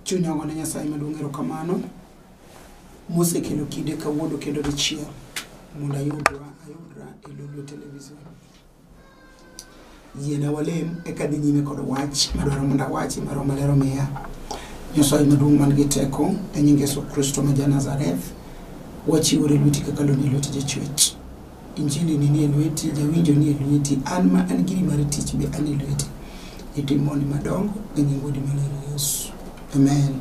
chunya ogo ne nyasaye maduong' erokamano mosekelo kinde kawuono kendo dichiel mondo ayudra ayudra e lolwe television yiena walem eka dhi nyime kod wach madwaro mondo awachi ma roho maler omiya nyasaye maduong' man gi teko e nying yesu kristo ma ja nazareth wachiwore lweti kaka loni e lweti jachwech injili ni nie lweti jawinjo nie lweti an ma an giri mar tich be an e lweti itimoni madongo e nying wuodi maler yesu amen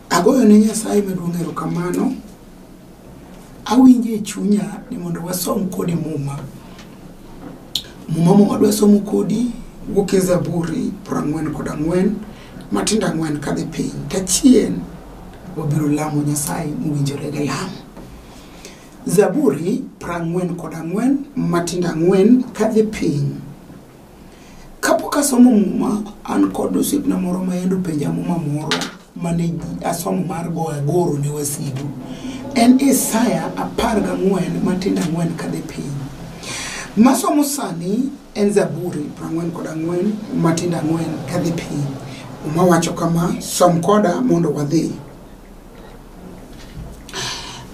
agoyo ne nyasaye maduong' erokamano awinjo e chunya ni mondo wasom kodi muma muma muma dwa somo kodi wuok e zaburi prang'wen kod ang'wen matindo ang'wen kadhi piny tachien wabiro lamo nyasaye mowinjore gi lamo zaburi prang'wen kod ang'wen matindo ang'wen kadhi piny Kapok asomo muma, an kod osiepna moro ma yande openja muma moro mane asomo mar go agoro ne wasigu. En Isaya apar gang'wen matindo ang'wen kadhi piny. Masomo sani en Zaburi prang'wen kod ang'wen matindo ang'wen kadhi piny. Muma wacho kama, som koda mondo wadhi.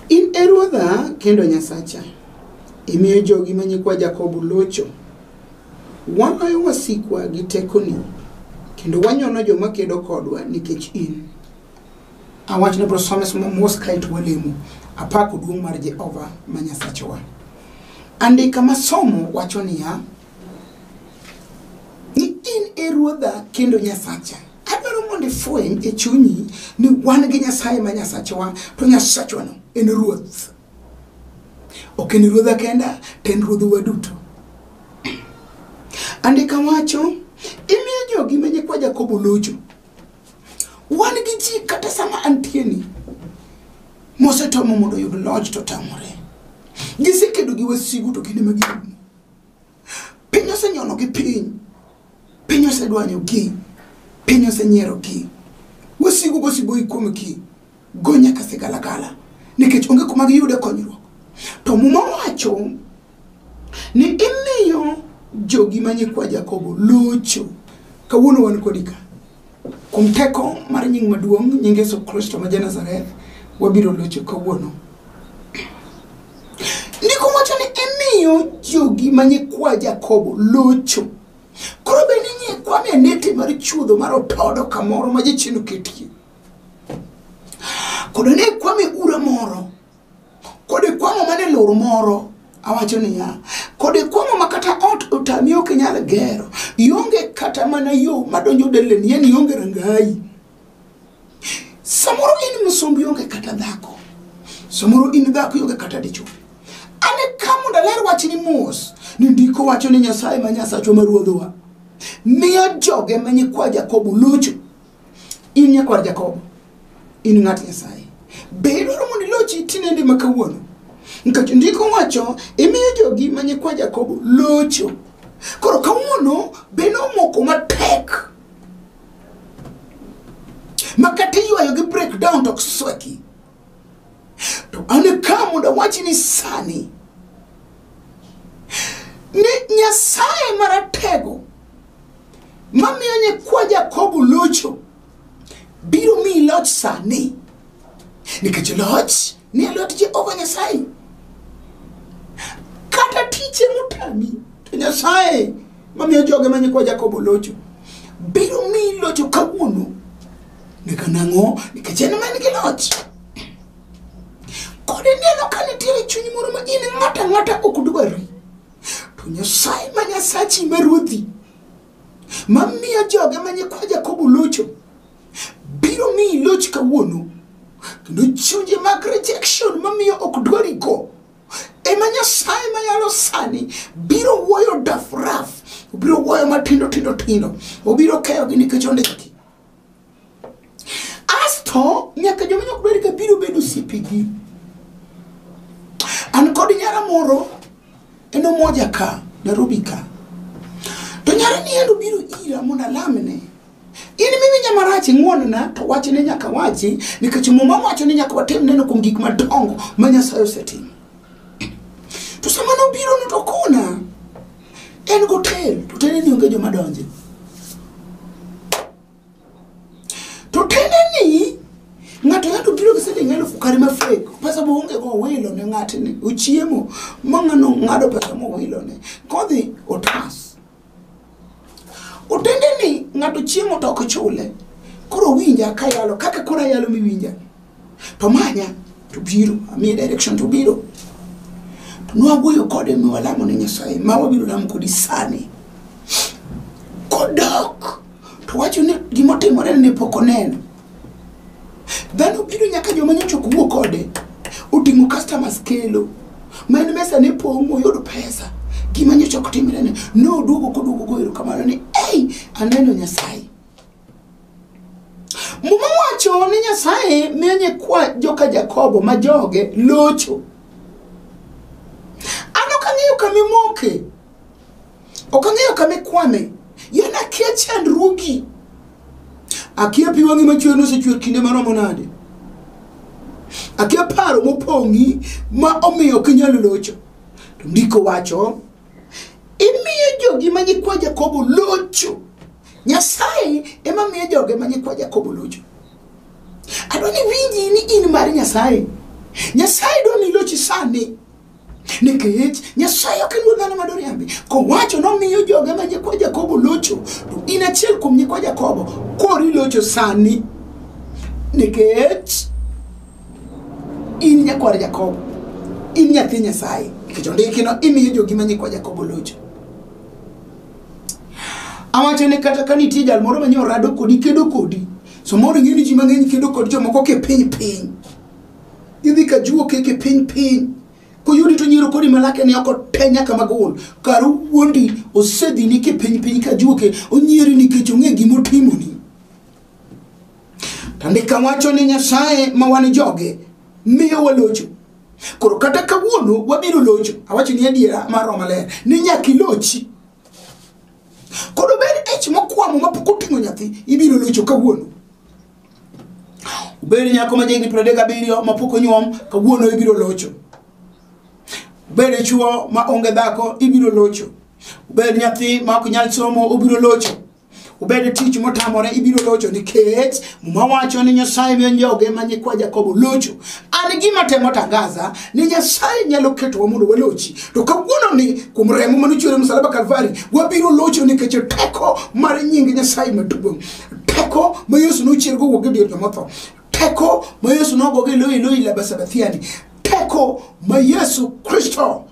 In e Ruodha kendo Nyasacha, imiyo jogi ma nyikwa Jakobo locho. Waloyo wasikwa gi tekoni, kendo wanyono joma kedo kodwa nikech in. Awach ni bro some somo mos kae to walemo. Apako duong' mar Jehova ma Nyasachwa. Andika ma somo wacho niya, ni in e ruodha kendo nyasacha adwaro mondo ifweny e chunyi ni wan gi nyasaye ma nyasachwa to nyasachwano en ruoth Ok en ruodha kenda, to en ruodhwa duto. Andika wacho, imiyo jogi ma nyikwa Jakobo locho. Wan gi ji kata sama antieni, mosetomo mondo oyud loch to tamore. Gisekedo gi wasigu to kinde ma girumo. piny osenyonogi piny piny osedwanyogi piny osenyierogi wasigu gosiboyi kuomgi go nyaka sigalagala nikech onge kuma giyude konyruok to muma wacho ni imiyo jogi manyikwa jakobo locho kawuono wan kodi ka Kuom teko mar nying maduong' nying Yesu Kristo ma Janazareth, wabiro locho kawuono. Ndiko wacho ni imiyo jogi ma nyikwa Jakobo locho. Koro be ni nyikwa mi anete mar chuodho mar otodo kamoro ma jachien oketie. Kodo ne kwame ura moro Kod ikwang'o mana e lor moro awacho niya kod ikwang'o ma kata ot otami ok inyal gero ionge kata mana yo madonjo deleni en ionge rangayi samoro in msumb ionge kata dhako samoro in dhako ionge kata dichwo ane ka mondo aler wachni mos ni ndiko wacho ni nyasaye ma nyasachwa ma ruodhowa miyo joge ma nyikwa jakobo locho in nyakwar jakobo in ng'at nyasaye be idwaro mondo ilochi tinende ma kawuono nikech ndiko wacho imiyo jogi ma nyikwa jakobo locho koro kawuono be nomoko matek ma kata iywayo gi breakdown to ok sweki to an e ka mondo awachi ni sani ni nyasaye maratego mamiyo nyikwa jakobo locho biro miyi loch sani nikech loch ni e lwet jehova nyasaye kata tiche motami to nyasaye mamiyo joge ma nyikwa jakobo locho biro miyi locho kawuono nika nang'o nikech en man gi loch kod ineno ka nitiere chuny moro ma in ng'ata ng'ata ok dwari to nyasaye ma nyasachi ma ruodhi mamiyo joge ma nyikwa jakobo locho biro miyi loch kawuono kendo chunje mag rejection mamiyo ok dwari go ema nyasaye mayalo sani biro wuoyo dafraf obiro wuoyo matindo tindo tindo obiro keyogi nikech ondiki asto nyaka joma nyok ber ka biro bedo osiepegi an kod nyara moro en omoja ka nairobi ka to nyara ni en obiro ira mondo alamne in miwinja marach ing'wonna to wachne nyaka wachi nikech muma wacho ni nyaka watim neno kuom gik madongo ma nyasaye osetimo to sama nobiro no to kona en gotel to tene ni onge joma donje to tene ni ng'ato ng'ato biro gi siling elufu kare ma fek pesa moonge go owilo ne ng'atni ochiemo ma ng'ano ng'ado pesa mowilo ne kodhi otas otende ni ng'ato chiemo to ok chule koro winja kayalo kaka koro ayalo miwinja to manya to biro amiye direction to biro to nwawuoyo kode mi walamo ne nyasaye ma wabiro lamo kodi sani kodok to wacho ni gimotimore ne pok oneno dhano biro nyaka joma nyocha ok wuo kode oting'o customers kelo ma en mesa ne pong' moyudo pesa gima nyocha ok timre ne noduogo koduogo goero kamano ni ei aneno nyasaye Muma wacho ni Nyasaye miyo nyikwa joka Jakobo ma joge locho. An ok ang'eyo kama imoke, ok ang'eyo kama ikwame, yena akia chandruogi. Akia pi wang'i machwer nosechwer kinde maromo nade. Akia paro mopong'i ma omiyo ok inyal locho. To ndiko wacho imiyo jogi ma nyikwa jakobo locho nyasaye ema miyo joge ma nyikwa jakobo locho adwa ni winji ni in mar nyasaye nyasaye dwa ni ilochi sani nikech nyasaye ok en wuod dhano ma doriambi kowacho nomiyo joge ma nyikwa jakobo locho to in achiel kuom nyikwa jakobo koro ilocho sani nikech in nyakwar jakobo in nyathi nyasaye nikech ondikino imiyo jogi ma nyikwa jakobo locho awacho ni kata ka nitie jal moro manyiewo rado kodi kedo kodi samoro ing'e ni ji mang'eny kedo kod jomoko ke piny piny idhi ka juo ke ke piny piny koyudi to nyiero kodi malake ni oko te nyaka magol kar wuondi osedhi ni ke piny piny ka juo ke onyieri nikech ong'e gima otimoni To andika wacho ni Nyasaye ma wan joge miyo walocho. Koro kata kawuono wabiro locho. Awacho ni adiera mar Roho Maler ni nyaka ilochi. Koro bed ich mokwamo ma pok oting'o nyathi ibiro locho kawuono. Bed nyako ma jahigni piero adek gabiriyo ma pok onyuom kawuono ibiro locho. Bed chuo ma onge dhako ibiro locho. Bed nyathi ma ok nyal somo obiro locho. Obed e tich motamore ibiro locho nikech muma wacho ni Nyasaye miyo joge ma nyikwa Jakobo locho. An gima temo tangaza ni Nyasaye nyalo ketowa mondo walochi. To kawuono ni kuom remo mane ochwer e msalaba Kalvari, wabiro locho nikech teko mar nying Nyasaye maduong'. Teko ma Yesu nochiergo wuok e dier joma otho. Teko ma Yesu nogogo e loyi loyi laba sabathiani. Teko ma Yesu Kristo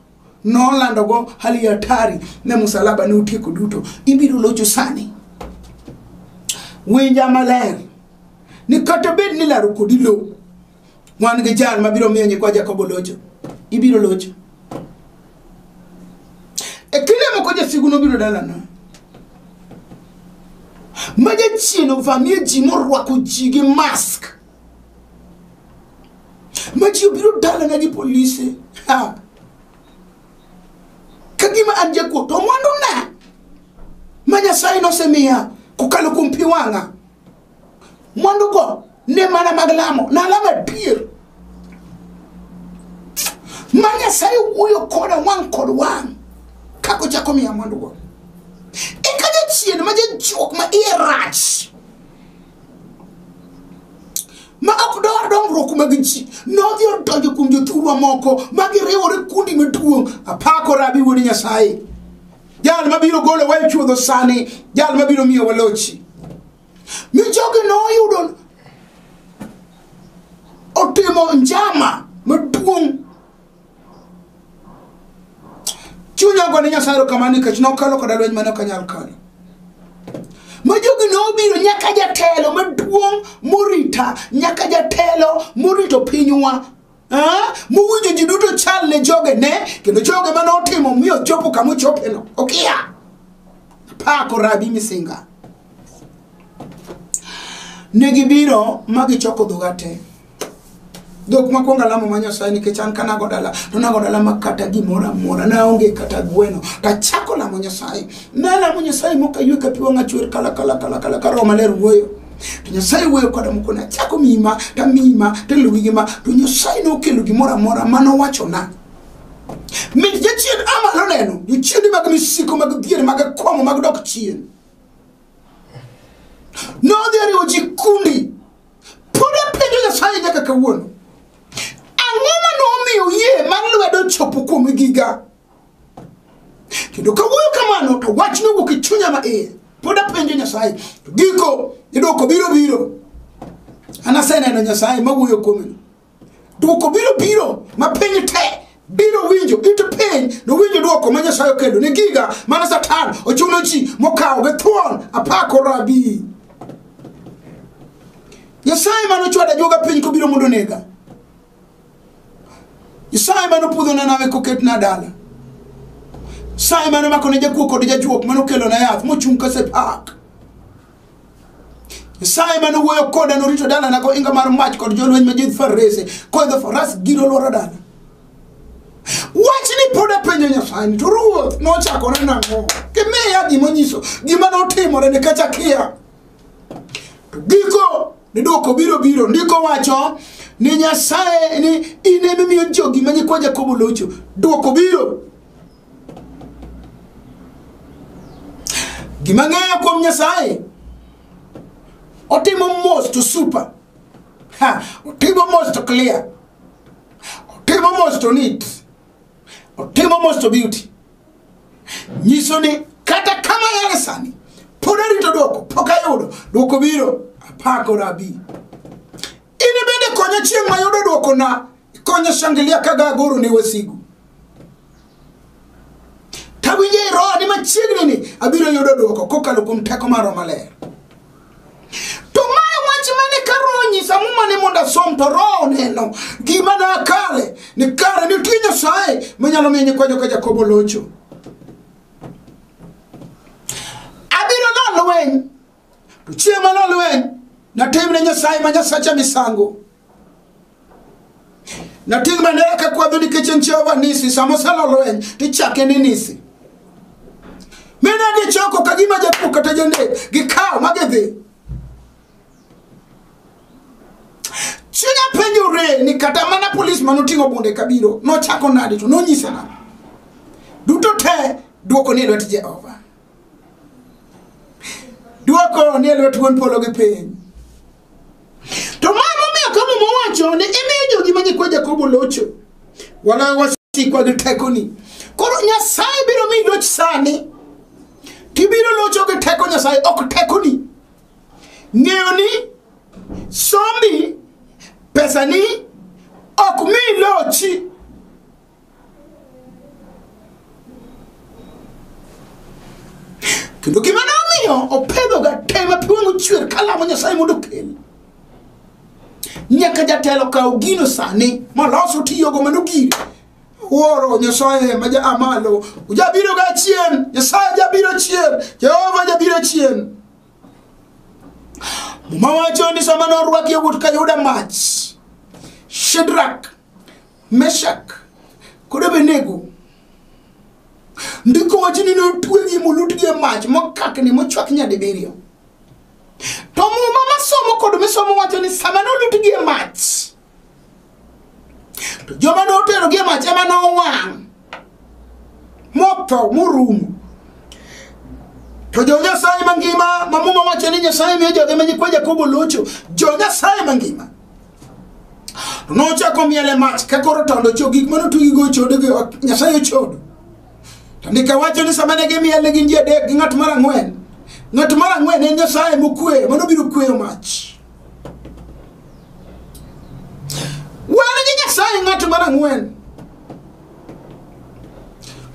nolandogo hali hatari ne musalaba ne otieko duto ibiro locho sani winja maler ni kata bed ni laro kodi lo wan gi jal mabiro miyo nyikwa jakobo locho ibiro locho e kinde moko jasigu nobiro dalana ma jachien ovamie ji morwako ji gi mask ma ji obiro dalana gi polise ha. ka gima an jakuo to mwanduna ma nyasaye nosemiya kokalo kuom pi wang'a mwandugo ne mana mag lamo nalamo adier ma nyasaye wuoyo koda wang' kod wang' kaka ochako miya mwandugo eka jachien ma jajuok ma iye rach ma ok dwar dongruok mag ji nodhi odonjo kuom jothurwa moko ma giriwore kundi maduong' apako rabi wuod nyasaye jal mabiro golo wa e chuodho sani jal mabiro miyo walochi mi jogi noyudo otimo njama maduong' chunya ogone nyasaye erokamano nikech nokalo koda lweny mane ok anyal kalo ma jogi nobiro nyaka jatelo maduong' morita nyaka jatelo morito pinywa mowinjo ji duto chal ne joge ne kendo joge mane otimo miyo chopo kama ochopeno okiya pako rabi misinga ne gibiro ma gichoko dhoga te dhok makwongo alamo ma nyasaye nikech an ka nago dala to nago dala ma kata gimoro amora naonge kata gweno tachako lamo nyasaye nalamo nyasaye mokaywe ka pi wang'a chwer kala kala kala kala ka roho maler wuoyo to nyasaye wuoyo koda moko nachako mima tamima teluwi gi ma to nyasaye nokelo gimoro amora ma nowachona mit jachien amalo neno jochiende mag misiko mag dhier mag akwamo mag dok chien nodhi ariwo ji kundi Pod apenjo Nyasaye nyaka kawuono. Ang'o ma nomiyo yie mar lwedo chopo kuom giga? Kendo kawuoyo kamano to wach nowuok e chunya ma iye. Pod apenjo Nyasaye. To giko idwoko biro biro. Anaseneno Nyasaye mawuoyo kuome. Dwoko biro biro ma piny te biro winjo ite piny nowinjo dwoko ma nyasaye okendo ni giga mane satan ochuno ji mokawo gi thuon apako rabi nyasaye mane ochwada joga piny kobiro mondo nega nyasaye mane opudho na nawe koket na dala nyasaye mane omako ne jakuo kod jajuok mane okelo na yath mochung' kasepak Nyasaye mane owuoyo koda norito dalana gohinga mar mach kod jolweny ma jidh farese koidho faras giro lworo dala wachni pod apenjo nyasaye to ruoth nochakore nang'o gimiya gima onyiso gima notimore nikech akia to giko ni dwoko biro biro ndiko wacho ni nyasaye ni in emimiyo jogi ma nyikwa jakobo locho dwoko biro gima ng'eyo kuom nyasaye otimo mos to super ha otimo mos to clear otimo mos to neat otimo mos to beauty nyiso ni kata kama yare sani pod arito dwoko pok ayudo dwoko biro apako rabi In bende konya chieng' mayudo dwokona konya shangilia kaga agoro ne wasigu tawinjo e roho ni machiegni ni abiro yudo dwoko kokalo kuom teko mar roho maler to mae wach mane ka roho nyisa muma ni mondo asom to roho neno gima ne akale ni kare nitie nyasaye manyalo miyo nyikwa joka jakobo locho abiro lalo weny to chieng' mane olweny natimne nyasaye ma nyasacha misango nating' bandera kakwadho nikech en jehova nisi sama osalo lweny tichake ni nisi mine gichoko ka gima jakuo kata janek gikawo ma gidhi chunya penjore ni kata mana polis ma noting'o bunde kabiro nochako nade to nonyise nade duto te dwoko ni e lwet jehova dwoko ni e lwet wuon polo gi piny to ma momiyo ka muma wacho ni imiyo jogi ma nyikwa jakobo locho waloyo wasikwa gi tekoni koro nyasaye biro miyi loch sani tibiro locho gi teko nyasaye ok tekoni ng'eyo ni sombi pesani ok mi lochi kendo gima ne omiyo opedhoga te ma pi wang' ochwer kalamo nyasaye mondo okel nyaka jatelo kaw gino sani moloso tiyogo mano gire wuoro nyasaye ma ja amalo ujabiro ga chien nyasaye jabiro chien jehova jabiro chien muma wacho ni sama norwaki yawuot ka yuda mach shedrak meshak kod abenego ndiko wacho ni notwegi molutgi e mach mokakni mochwak nyadibiriyo to muma masomo kod misomo wacho ni sama nolutgi e mach to joma noterogi e mach ema nowang' motho morumo to jo-nyasaye mangima ma muma wacho ni nyasaye miyo joge ma nyikwa jakobo locho jo-nyasaye mangima to nochako miele mach ka koro tondo cho gik mane otugigo chodo gi ot nyasaye ochodo to ndika wacho ni sama ne gimiele gin ji adek gi ng'at mar ang'wen ng'at mar ang'wen en nyasaye mokweyo mano biro kweyo mach wan gi nyasaye ng'at mar ang'wen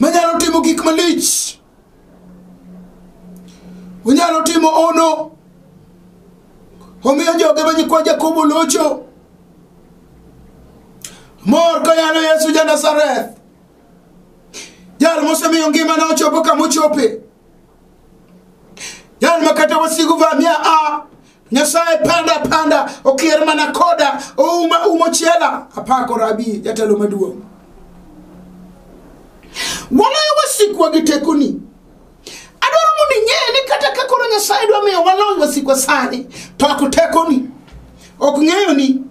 manyalo timo gik malich unyalo timo ono omiyo joge ma nyikwa jakobo locho mor koyalo yesu ja nazareth jal mosemiyo ngimane ochopo kama ochope jal ma kata wasigu vamia a Nyasaye panda panda okier mana koda ouma umo chela apako rabi jatelo maduong'. Waloyo wasikwa gi tekoni. Adwaro mondo ing'e ni kata ka koro Nyasaye dwa miyo walony wasikwa sani to ok tekoni. Ok ng'eyo ni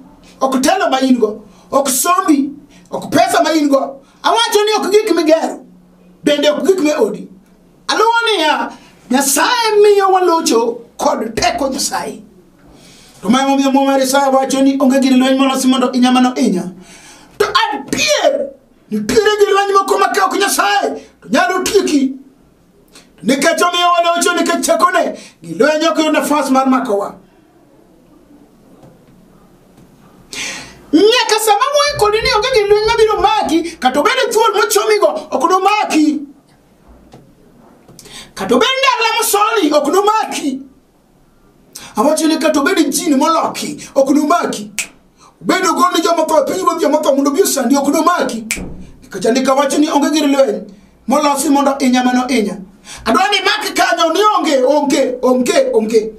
ok telo ma in go, ok sombi, ok pesa ma in go. Awacho ni ok gik migero, bende ok gik me odi. Aluwo niya, Nyasaye miyo walocho kod teko Nyasaye. To ma emomiyo Muma mar Isaya wacho ni onge gir lweny molosi mondo inya mano inya. To adier, nitiere gir lweny moko ma ka ok Nyasaye to nyalo tieki. To nikech omiyo walocho nikech tekone, gir lweny ok yud nafas mar makowa. nyaka sama moikori ni onge gir lweny mabiro maki kata obed thuol mochomigo ok nomaki kata obed ni alamo soni ok nomaki awacho ni kata obed jini moloki ok nomaki obed ogol ni joma tho e piny ruoth joma tho mondo obi osandi ok nomaki nikech andika wacho ni onge gir lweny molosi mondo inya mano inya adwa ni maki kanyo ni onge onge onge onge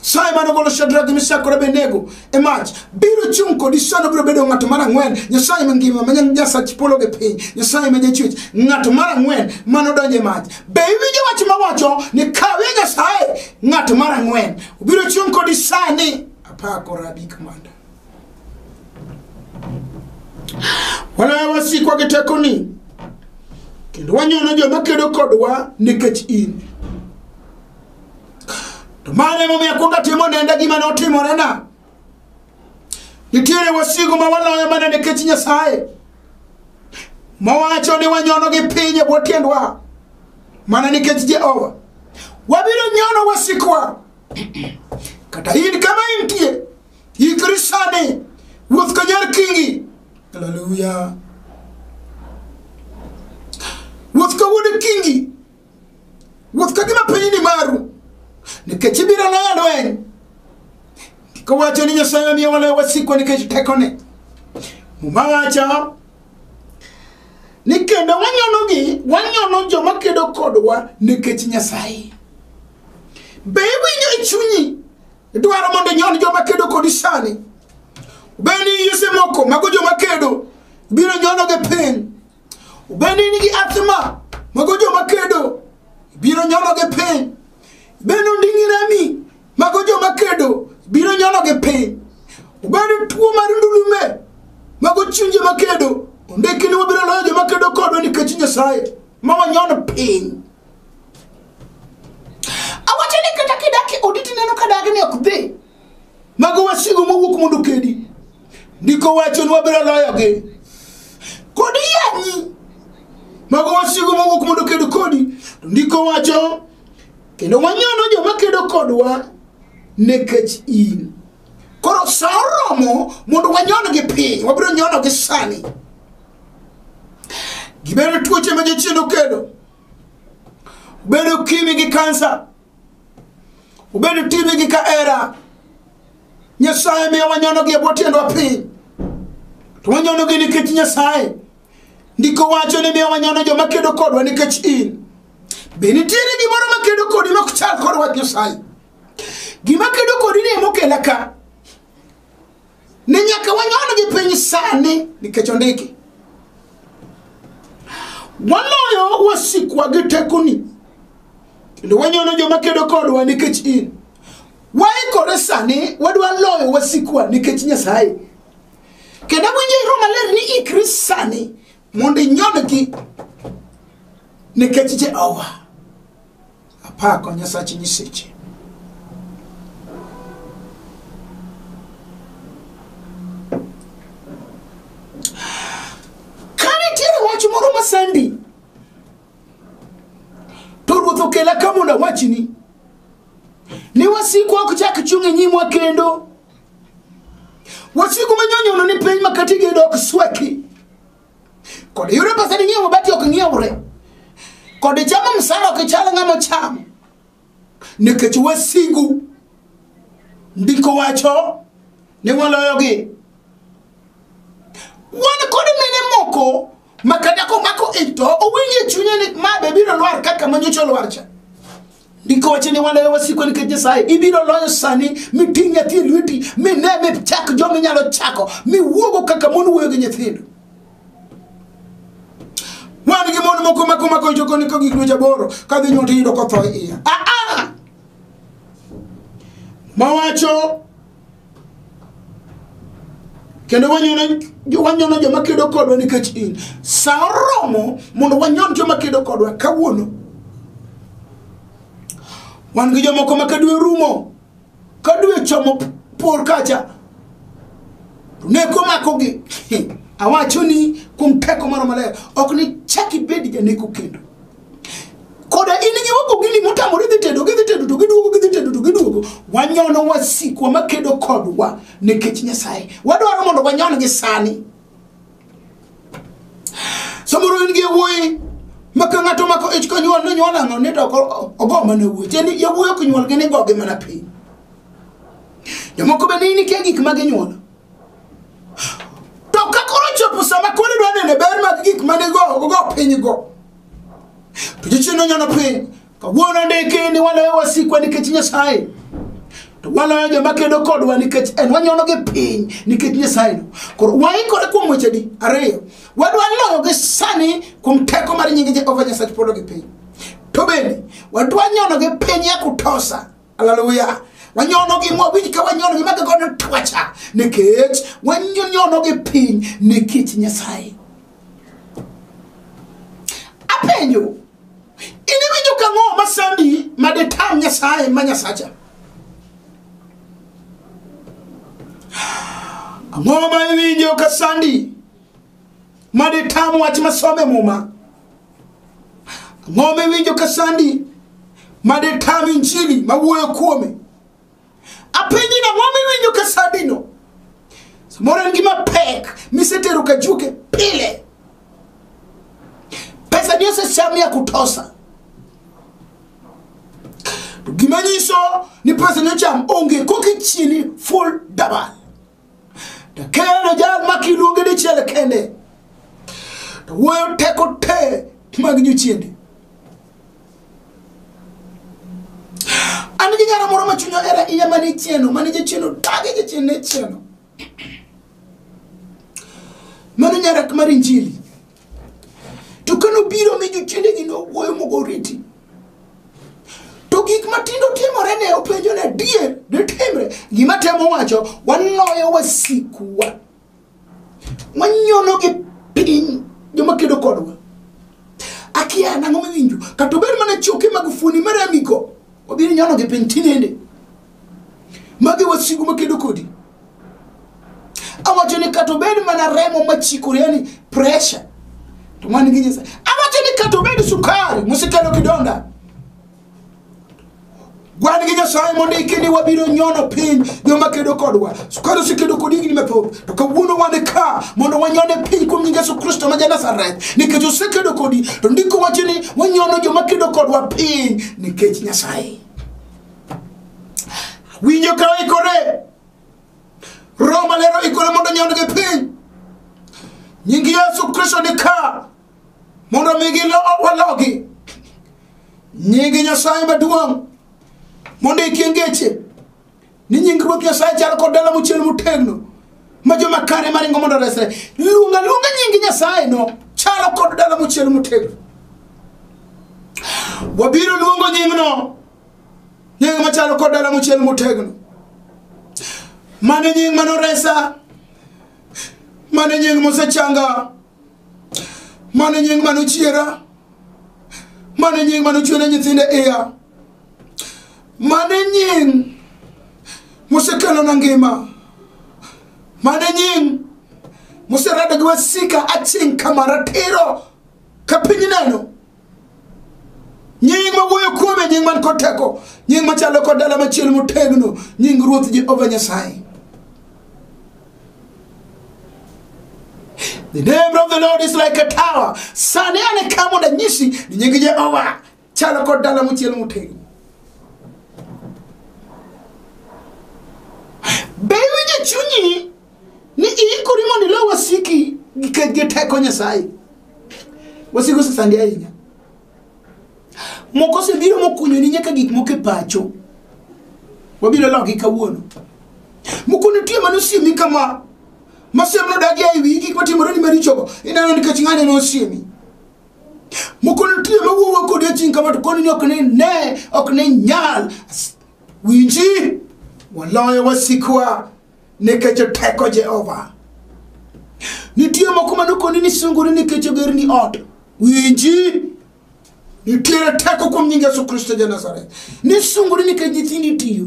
Sa ema nogolo Shadrach, Meshach kod Abednego e mach. Biro chung' kodi sano biro bedo ng'ato mar ang'wen, Nyasaye mangima ma nyan jasach polo gi piny, Nyasaye ma jachwech, ng'ato mar ang'wen ma nodonjo e mach. Be iwinjo wach ma wacho ni kawe Nyasaye ng'ato mar ang'wen? Obiro chung' kodi sani. Apako rabi kamanda. Waloyo wasikwa gi tekoni kendo wanyono joma kedo kodwa nikech in. To mano emomiyo akwongo atimo nenda gima ne otimorena. Nitiere wasigu ma waloyo mana nikech Nyasaye mawacho ni wanyono gi piny e bwo tiendwa mana nikech Jehova. Wabiro nyono wasikwa kata in kama intie ikri sani wuoth ka nyar kingi haleluya wuoth ka wuod kingi Wuoth ka gima piny ni maru, nikech ibiro loyo lweny. Ndiko wacho ni Nyasaye omiyo waloyo wasikwa nikech tekone. Muma wacho ni kendo wanyonogi, wanyono joma kedo kodwa nikech Nyasaye. Be iwinjo e chunyi idwaro mondo inyon joma kedo kodi sani? Be ni yise moko mago joma kedo biro nyonogi piny? Bende in gi athma mago joma kedo biro nyono gi piny bende onding'i rami mago joma kedo biro nyono gi piny bende tuo mar ndulume mago chuny joma kedo ondiki ni wabiro loyo joma kedo kodwa nikech nyasaye ma wanyono piny awacho ni kata kidaki oditi neno ka dagi ni ok dhi Mago wasigu mowuok mondo okedi. Ndiko wacho ni wabiro loyogi. Kod yanyi. Mago wasigu mowuok mondo oked kodi. To ndiko wacho kendo wanyono joma kedo kodwa nikech in. Koro sa oromo mondo wanyon gi piny, wabiro nyono gi sani. Gibedo tuoche ma jochiendo kedo. Bedo ukimwi gi kansa. obedo time gi ka era nyasaye miyo wanyonogi e bwo tiendwa piny to wanyonogi nikech nyasaye ndiko wacho ni miyo wanyono joma kedo kodwa nikech in be nitiere gimoro makedo kodi ma ok chal kod wach nyasaye gima kedo kodi ni emokela ka ni nyaka wanyon-gi piny sani nikech ondiki waloyo wasikwa gi tekoni kendo wanyono joma kedo kodwa nikech in waikore sani wadwa loyo wasikwa nikech nyasaye kendo awinjo iro maler ni ikri sani mondo inyon-gi nikech jehova Apako Nyasach Nyiseche. sandi to ruoth okela ka mondo awachni ni wasikwa ok chak chung' e nyimwa kendo wasiku manyonyono ni piny makati gedo ok sweki kod yudo pesa ni ng'iewo mabati ok ng'iewre kod chamo msara ok chal ng'ama chamo nikech wasigu ndiko wacho ni waloyogi wan kod mine moko makata komako ito owinjo e chunye ni ma be biro lwar kaka manyocha olwar cha ndiko wacho ni waloyo wasiko nikech nyasaye ibiro loyo sani miting' nyathi e lweti mine michak joma inyalo chako miwuogo kaka mon wuoyo gi nyithindo wan gi mon moko makomako jokoni ka gik dweche aboro ka dhi nyuol tiyudo kotho e iya aa mawacho kendo wanyono wanyono joma kedo kodwa nikech in sa oromo mondo wanyon joma kedo kodwa kawuono wan gi jomoko ma kadwe rumo kadwe chomo p- por kacha to neko makogi awacho ni kuom teko moro maler ok ni chak ibed janeko kendo koda in gi wagogini motamore dhi tedo gidhi tedo to giduogo gidhi tedo to giduogo wanyono wasikwa makedo kodwa nikech nyasaye wadwaro mondo wanyon gi sani samoro in gi yawuoyi maka ng'ato mako ich konyuol ni nyuol ang'o ni to ko- ogo mana wuoyi tieni yawuoyi ok nyuol gini gogi mana piny jomoko bende in ikia gik ma ginyuolo to ka koro chopo sama koro idwa nene ber mag gik mane go ogo piny go to jochiende onyono piny kawuono ndiki ni waloyo wasikwa nikech nyasaye to waloyo joma kedo kodwa nikech en wanyonogi piny nikech nyasayeno koro waikore kuom wechedi ariyo wadwa loyogi sani kuom teko mar nyingi jehova nyasaye polo gi piny to bende wadwa nyonogi piny ya kutosa Hallelujah. wanyonogi mwawinj ka wanyonogi maka godo twacha nikech wanyonogi piny nikech nyasaye apenjo iniwinjo ka ng'o masandi madetam nyasaye ma nyasacha ang'o ma iwinjo ka sandi madetam wach masome muma Ang'o miwinjo ka sandi ma detam injili ma wuoyo kuome? Apenji ni ang'o miwinjo ka sandino? Samoro en gima pek misetero ka juke pile. Pesa ni osecham ya kutosa. To gima nyiso ni pesa ni ocham onge kokichieni full dabal. to kendo jal ma kiluonge dichiel kende to wuoyo teko te mag nyochiende an gi nyara moro ma chunya era iya mane chieno mane jachieno dage jachien ne chieno mano nyara mar injili to ka nobiro mi jochiendegi nowuoyo mogoriti to gik matindo timore ne openjo ne dier ditimre gima temo wacho wanoyo wasikwa wanyono gi piny joma kedo kodwa akia nang'o miwinjo kata obed mana choke mag fuoni maramigo wabiro nyono gi piny tinende Magi wasigu makedo kodi. Awacho ni kata obed mana remo machikore yani pressure. To mani gi Nyasaye. Awacho ni kata obed sukari musekelo kidonda. Wan gi Nyasaye mondo iki ni wabiro nyono piny joma kedo kodwa. Sukari osekedo kodi higni mathoth. To kawuono wan e ka mondo wanyone piny kuom nying Yesu Kristo ma Janazareth. Nikech osekedo kodi to ndiko wacho ni wanyono joma kedo kodwa piny nikech Nyasaye. winjo ka oikore roho maler oikore mondo nyond gi piny nying yesu kristo ni ka mondo mi gilowalogi nying nyasaye maduong' mondo ikie ngeche ni nying ruoth nyasaye chalo kod dala mochiel motegno ma joma kare maringo mondo resre luonga luonga nying nyasaye no chalo kod dala mochiel motegno wabiro luongo nyingno nying machalo kod dala mochiel motegno mane nying manoresa mane nying mosechanga mane nying manochiera mane nying manochwene nyithinde iya mane nying mosekelona ngima mane nying moserada gi wasika aching' kama ratiro ka piny neno nying ma wuoyo kuome nying man kod teko nying machalo kod dala machielo motegno nying ruoth jehova nyasaye The name of the Lord is like a tower. Sani ane ka mondo anyisi ni nying Jehova chalo kod dala mochiel motegno. Be iwinjo chunyi ni iikori mondo ilo wasiki gi ke- gi teko nyasaye wasiki osesandi ahinya moko osebiro mokunyoni nyaka gik moko e pacho wabiro logi kawuono moko nitie mane osiemi kama masiem nodagi e wi gik matimoreni marichogo ineno nikech ng'ane nosiemi moko nitie mawuowa kodi aching kama to koni ni ok ni ne ok ni nyal As- winji waloyo wasikwa nikech teko jehova nitie moko manokoni ni sungori nikech ogerni ot winji nitiere teko kuom nying yesu kristo ja nazareth ni sungori nikech nyithindi tiyo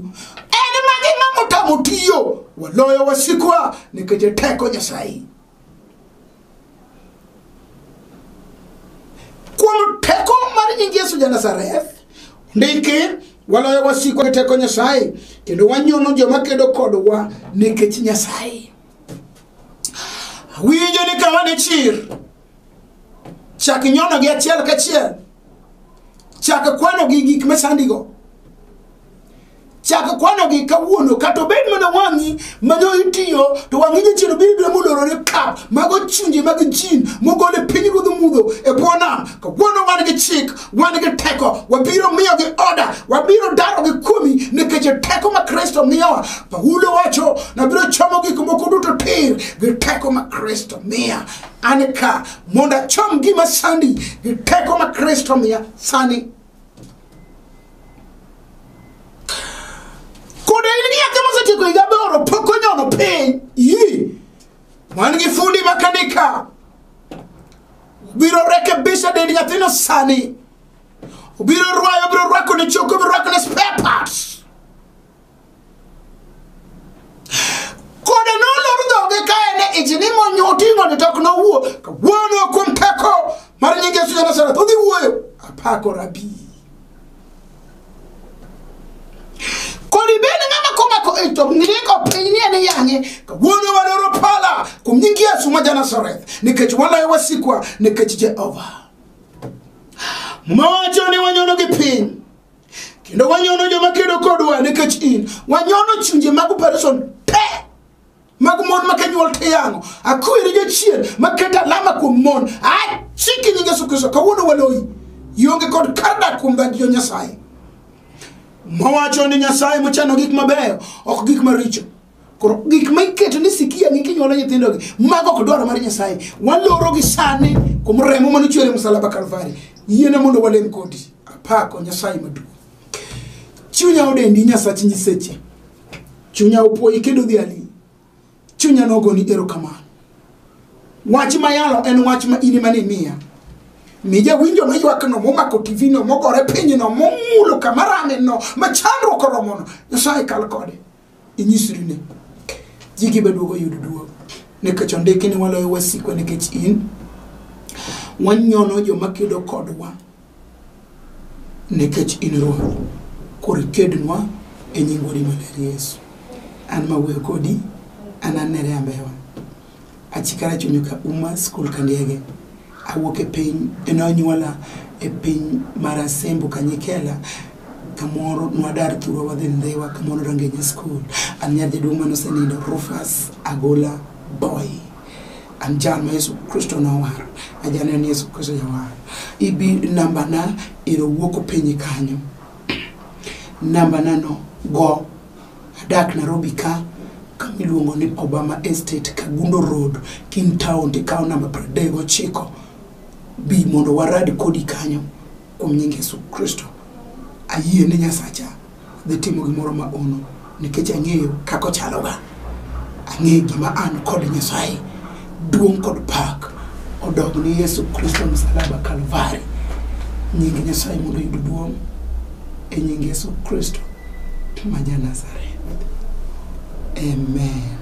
en magi ng'ama otamo tiyo waloyo wasikwa nikech teko nyasaye kuom teko mar nying yesu janazareth ndiki waloyo wasikwa gi teko nyasaye kendo wanyono joma kedo kodwa nikech nyasaye winjo ni kama ni chir chak nyonogi achiel kachiel chak kwanogi gik masandigo chak kwanogi kawuono kata obed mana wang'i manyo itiyo to wang'i jachien biro biro molorore kap mago chunje mag jin mogol e piny ruodh mudho e bwo nam kawuono wan gi chik wan gi teko wabiro miyo gi oda wabiro daro gi kuomi nikech e teko ma kristo miyowa paulo wacho nabiro chomo gik moko duto tir gi teko ma kristo miya an ka mondo achom gima sandi gi teko ma kristo miya sani Koda in gi yake mosetieko higa aboro pok onyono piny. Yi. Wan gi fundi makanika. Biro rekebisha dend nyathino sani. Obiro rwayo, obiro rwako ne choko, obiro rwako ne spare parts. Kode nolor dhoge ka en e ich ni monyo oting'o ni tok nowuo ka wuono kuom teko mar nying Yesu Nazareth odhi wuoyo apako rabi. Kodi bed ng'ama komako ich to ng'iko piny ni en yang'e ka wuono wadoro pala kuom nying Yesu ma Nazareth nikech waloyo wasikwa nikech Jehova. Mowacho ni wanyono gi piny kendo wanyono joma kedo kodwa nikech in wanyono chunje mag operation te mag mon ma kenyuol te yang'o akwiri jachien maketo alama kuom mon achiki nying yesu kristo kawuono waloyi ionge kod kar dak kuom dhagi jo nyasaye mawacho ni nyasaye mochano gik mabeyo ok gik maricho koro gik ma iketo ni sikia gi kinyuolo nyithindogi mago ok dwaro mar nyasaye walorogi sani kuom remo mane ochwere msalaba kalvari yiena mondo walem kodi apako nyasaye maduong' chunya odendi nyasach nyiseche chunya opwoyi kendo dhi ali chunya nogoni erokamano wach mayalo en wach ma in mane miya mi jawinjo maywakno momako tivino mogore pinyno momulo kama rame no ma chandruok oromono nyasaye kal kode inyisri ni ji gi beduogo yudo duogo nikech ondiki ni waloyo wasikwa nikech in wanyono joma kedo kodwa nikech in ruoth koro ikednwa e nying wuodi maler yesu an ma wuoyo kodi an anere ambewa Achikara chunyo ka uma skul ka ndege. Awuok e piny, eno anyuola e piny mar Asembo Kanyikela kamoro nwadar thurwa wadhi ndhiwa kamoro Rangenya skul. An nyar jaduong' mane osenindo Rufus Agola Boy. An jal ma Yesu Kristo nowaro. Ajaneno ni Yesu Kristo jawar. Ibi nambana ero wuok openye kanyo. Nambana no go Adak Nairobi ka kama iluongo ni Obama Estate, Kagundo Road, King Town, tikawo namba pradek gochiko. Bi mondo warad kodi kanyo kuom nying Yesu Kristo. Ayie ni Nyasacha dhi timo gimoro ma ono nikech ang'eyo kaka ochaloga. Ang'eyo gima an kod Nyasaye. duong' kod pak odog ni yesu kristo msalaba kalvari nying nyasaye mondo oyud duong' e nying yesu kristo ma ja nazareth amen